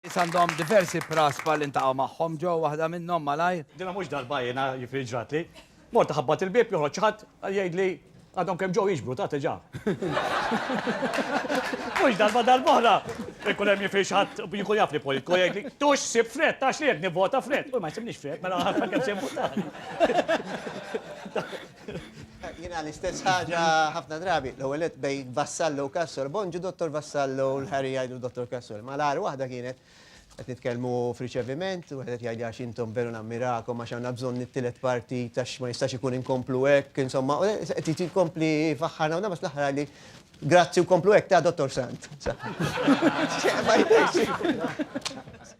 Nies għandhom diversi praspa li ntaqgħu magħhom ġo waħda minnhom malajr. Dinha mhux darba jiena jiġifieri ġratli. Mort iħabbat il-bieb joħroġ xi ħadd jgħidli għadhom kemm ġew jiġbru ta' teġa. Mhux darba darb'oħra ikun hemm jiġifieri xi ħadd jkun jaf li politku jgħidli tu x'sib f'Fred ta' xliek nivvota Fred. U ma jsibnix Fred mela għalfejn kemm se jivvotani. Jiena l-istess ħaġa ħafna drabi. L-ewwel nett bejn Vassallo u Cassol. Bonġu Dottor Vassallo u l-ħari jgħidu Dottor Cassol. Ma l-agħar waħda kienet qed nitkellmu f'riċeviment, wieħed qed jgħidli għax intom veru nammirakom għax għandna bżonn it-tielet parti għax ma jistax ikun inkomplu hekk, insomma, qed jkompli jfaħħarna u nagħmel fl-aħħar għalli grazzi u komplu hekk ta' Dottor Sant. Ma jidhirx.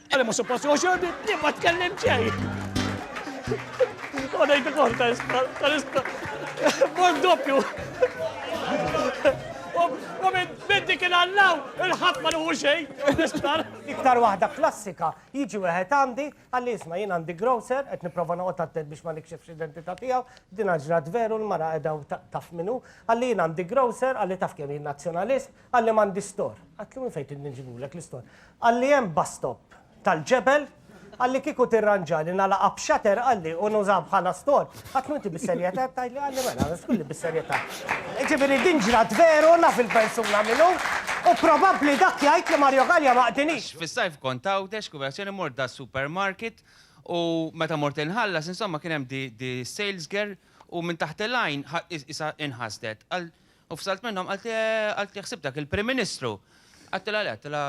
Għaliex mhux suppost jieħu xogħol bint li ma tkellimt xejn. U ngħid ukoll ta' isptar, ta' isptar. Mor doppju. U minn dik il-allaw il-ħadd ma nuhu xejn, isptar. Iktar waħda klassika, jiġi wieħed għandi, qalli isma' jien għandi grocer, qed nipprova noqgħod attent biex ma nikxifx l-identità tiegħu, dinha ġrat veru, l-mara qiegħda u taf min hu, qalli jien għandi grocer, qalli taf kemm jien Nazzjonalist, Qalli m'għandi store. Għedtlu minn fejn tridni nġibulek l-istore? Qalli hemm bus stop tal-ġebel, qalli kieku tirranġali nagħlaqha b'shutter qalli u nużaha bħala store. Għedtlu inti bis-serjetà qed tgħidli? Qalli mela, għax tqulli bis-serjetà. Jiġifieri din ġrat veru, naf il-persuna min hu, u probabbli dak jgħid li Mario Galea ma qdinix. Għax fis-sajf kont Għawdex, kunverżjoni mort das-supermarket u meta mort inħallas insomma kien hemm di sales girl u minn taħt il-għajn qisha inħasdet. U fsalt minnhom qaltli qaltli ħsib dak il-Prim Ministru. Għattilha le, għattilha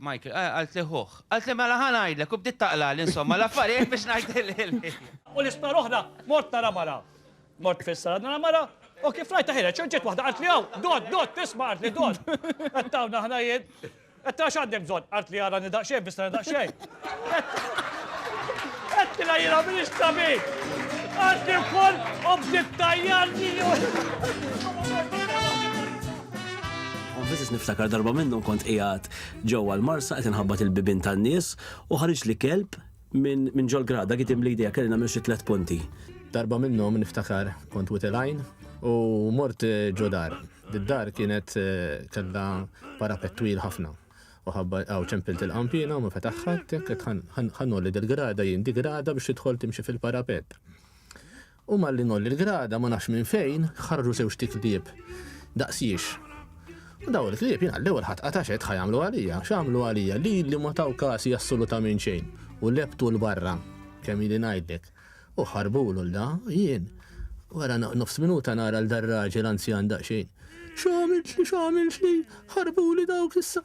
Michael, qaltli ħuh. Qaltli mela ħa ngħidlek u bdiet taqlagħli insomma l-affarijiet biex ngħidilli. U l-isptar oħra mort nara mara. Mort fis-sala nara mara u kif rajtha ħireġ u ġiet waħda qaltli hawn, dott, dott, isma' qaltli dott. Qed hawn aħna jien. Għedtilha għax għandek bżonn. Qaltli arani daqsxejn, fissrani daqsxejn. Għedtilha jiena m'iniex tabib. Qaltli wkoll u bdiet tgħajjarli. Għanfisis niftakar darba minnhom kont qiegħed ġewwa l-marsa qed inħabbat il-bibien tan-nies u ħariġ li kelb Minn ġol-grad, dak itim li jdejja kelli nagħmel xi tliet punti. Darba minnhom niftakar kont wiegħti l-għajn u mort ġo dar. Id-dar kienet kellha parapett twil ħafna u ħabba hawn ċempilt il-qanpiena u ma fetaħx ħadd, jekk qed ħa ngħolli dil-grada jien, di grada biex tidħol timxi fil-parapett. U malli ngħolli l-grada, ma nafx minn fejn, ħarġu żewġt klieb daqs jiex. U dawn il-klieb jiena l-ewwel ħadd qata' x'għedt ħa jagħmlu għalija, x'għamlu għalija, lili ma taw kasi assolutament xejn u lebtu 'l barra, kemm ili ngħidlek. U ħarbulu 'l da, jien, wara nofs minuta nara 'l dar-raġel anzjan daqsxejn, X'għamiltli, x'għamiltli, ħarbuli dawk issa!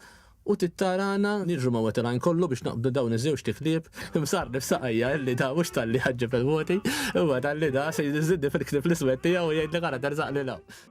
U tittarana niġru ma' wetterine kollu biex naqbdu dawn iż-żewġt tiklieb imsarrni f'saqajja illi da mhux talli ħaġġeb il-voti imma talli da se jżidni fil-ktieb l-iswed tiegħu u jgħidli ara terzaqli 'l hawn.